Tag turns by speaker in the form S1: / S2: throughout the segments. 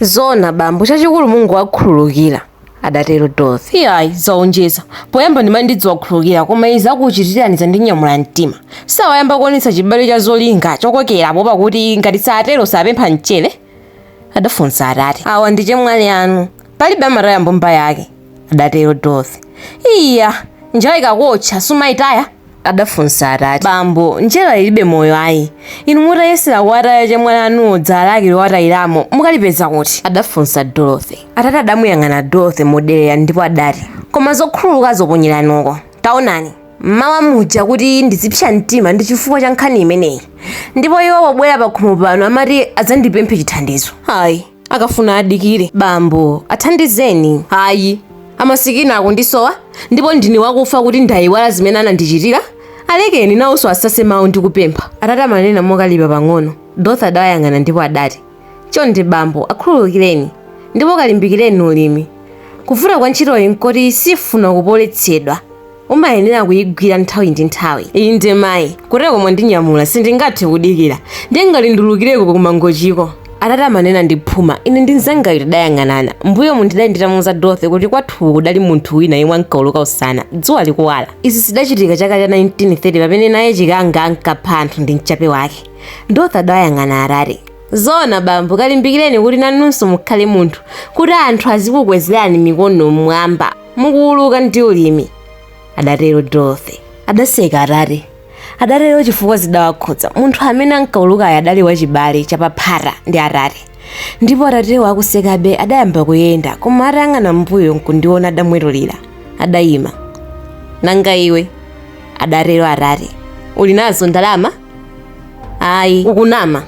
S1: Zoona bambo, chachikulu mungowakhululukira, adatero Dorothy. Iyayi,
S2: zaonjeza. Poyamba ndimati ndidziwakhululukira, koma izi akuchitirani zandinyamula mtima. Sawayamba kuonetsa chibale cha zolinga chokokera poopa kuti ngati satero sapempha mchere? adafunsa atate. Awa ndi
S1: chemwali anu. Palibe amataya mbumba yake, adatero Dorothy. Iya!
S2: Njerwa ikakuotcha, sumaitaya?
S1: adafunsa atate, Bambo, njerwa
S2: ilibe moyo ayi. Inu mutayesera kuwataya chemwali anuwo dzala lake lowatayiramo mukalipeza kuti? adafunsa Dorothy.
S1: Atate adamuyang'ana Dorothy moderera ndipo adati, Koma zokhululukazo ponyerani uko. Taonani! M'mawa muja kuti ndizipsa mtima ndi chifukwa cha nkhani imeneyi. Ndipo iwo pobwera pakhomo pano amati adzandipemphe chithandizo. Ayi.
S2: akafuna adikire
S1: bambo athandizeni
S2: ayi amasikini akundisowa ndipo ndine wakufa kuti ndayiwala zimene anandichitira alekeni nawonso asase mawu ndi kupempha atate amanena
S1: mokalipa pang'ono dorothy adawayang'ana ndipo adati chonde bambo akhululukireni ndipo kalimbikireni ulimi kuvuta kwa ntchitoyi nkoti sifuna kupoletsedwa umayenera kuyigwira nthawi ndi nthawi inde
S2: mayi kuteroko mwandinyamula sindingathe kudikira ndiye ngati ndiulukireko kumangochiko atate amanena
S1: ndi phuma ine ndi mzangayo tidayang'anana mbuyomu ndidali nditamuuza dorothy kuti kwathu kudali munthu wina yemwe ankauluka usana dzuwa likuwala izi zidachitika chaka cha 1930 pamene naye chikanga ankapha anthu ndi mchape wake dorothy adawayang'ana atate zoona bambo kalimbikireni kuti nanunso mukhale munthu kuti anthu azikukwezerani mikono mmwamba mukuuluka ndi ulimi adatero dorothy adaseka atate adatero chifukwa zidawakhudza munthu amene ankaulukayo adali wachibale chapaphata ndi atate ndipo atatewo akusekabe adayamba kuyenda koma atayang'ana mbuyo nkundiona adamwetulira adayima nanga iwe adatero atate uli nazo ndalama ayi ukunama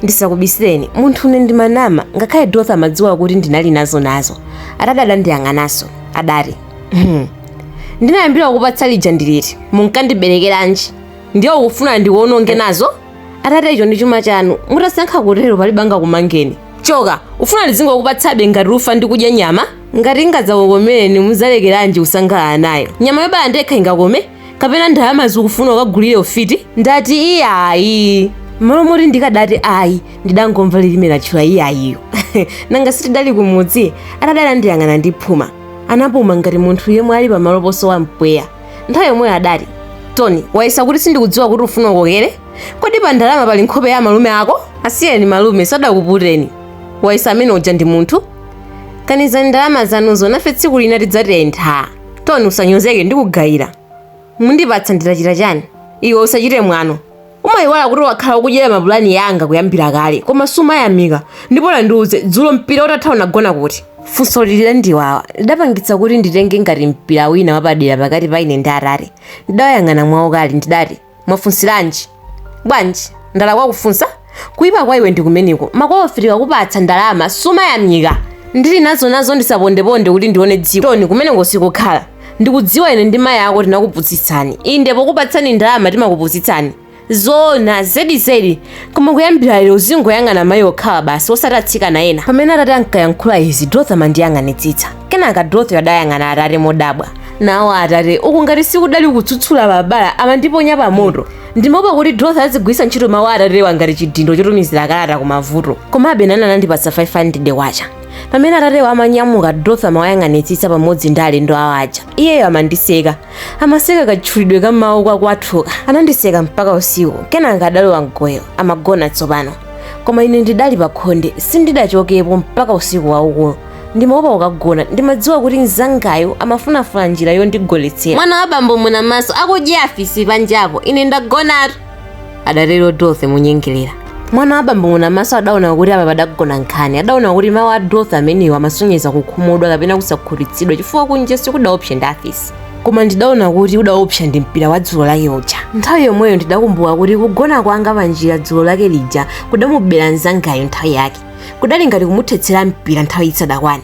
S1: ndisakubisireni munthune ndimanama ngakhale dorothy amadziwa kuti ndinali nazo atate adandiyang'ananso adati "Hmm, ndinayambira kupatsa lija ndi liti munkandiberekeranji ndiye ukufuna ndikuononge nazo atate icho ndi chuma chanu mutasankha kutero palibe angakumangeni choka ufuna ndizingokupatsabe ngati ufa ndikudya nyama ngati ingadzakukomereni muzalekeranji kusangalala nayo nyama yobala ndekha ingakome kapena ndalamazo ukufuna ukagulire ufiti ndati iyayi mmalo moti ndikadati ayi ndidangomva lilime latchula iyayiyo nanga sitidali kumudzi atate adandiyang'ana ndi phuma anapuma ngati munthu yemwe ali pamalo posowa mpweya nthawi yomweyo adati tony wayesa kuti sindikudziwa kuti ufuna ukokere kodi pa ndalama pali nkhope ya malume ako asiyeni malume sadakuputeni wayesa amene uja ndi munthu kanizani ndalama zanuzo nafe tsiku lina tidzatentha toni usanyozeke ndikugayira mundipatsa nditachita chani iwe usachite mwano umayiwala kuti wakhala ukudyera mapulani yanga kuyambira kale koma sumayamika ndipo nandiuze dzulo mpira utatha unagona kuti funso lidandiwawa lidapangitsa kuti nditenge ngati mpira wina wapadera pakati pa ine ndi atati ndidawayang'ana mwaukali ndidati Mwafunsilanji? Bwanji? Ndalakwa kufunsa? Kuipa kwa iwe ndikumeneko. Makolofe tikakupatsa ndalama sumayamika. Ndili nazo nazo ndisapondeponde kuti ndione dziko. Toni kumeneko sikukhala. Ndikudziwa ine ndi mayi ako tinakupusitsani. Inde pokupatsani ndalama timakupusitsani. Zoona zedi zedi koma kuyambira lero uzingoyang'ana mayi okhawa basi osati atsikana ena pamene atate ankayankhula izi dorothy amandiyang'anitsitsa kenaka dorothy adayang'ana atate modabwa nawo atate uku ngati sikudali kutsutsula pabala amandiponya pamoto ndimaopa kuti dorothy azigwiritsa ntchito mawu atatewa ngati chidindo chotumizira kalata kumavuto komabe nani anandipatsa 500 kwacha pamene atatewa amanyamuka dorothy amawayang'anitsitsa pamodzi ndi alendo awo aja iyeyo amandiseka amaseka katchulidwe ka mawu ka kwathuka anandiseka mpaka usiku kenaka adalowa mgoyo amagona tsopano koma ine ndidali pakhonde sindidachokepo mpaka usiku waukulu ndimaopa kukagona ndimadziwa kuti mzangayo amafunafuna njira yondigoletsera mwana wa bambo munamaso akudye afisi panjapo ine ndagonatu adatero dorothy monyengerera mwana wa bambo munamaso adaona kuti apa padagona nkhani adaona kuti mawu a dorothy amenewo amasonyeza kukhumudwa kapena kusakhutitsidwa chifukwa kunja sikudaopse ndi afisi koma ndidaona kuti kudaopsa ndi mpira wa dzulo lake uja nthawi yomweyo ndidakumbuka kuti kugona kwanga panjira dzulo lake lija kudamubera mzangayo nthawi yake kudali ngati kumuthetsera mpira nthawi isadakwane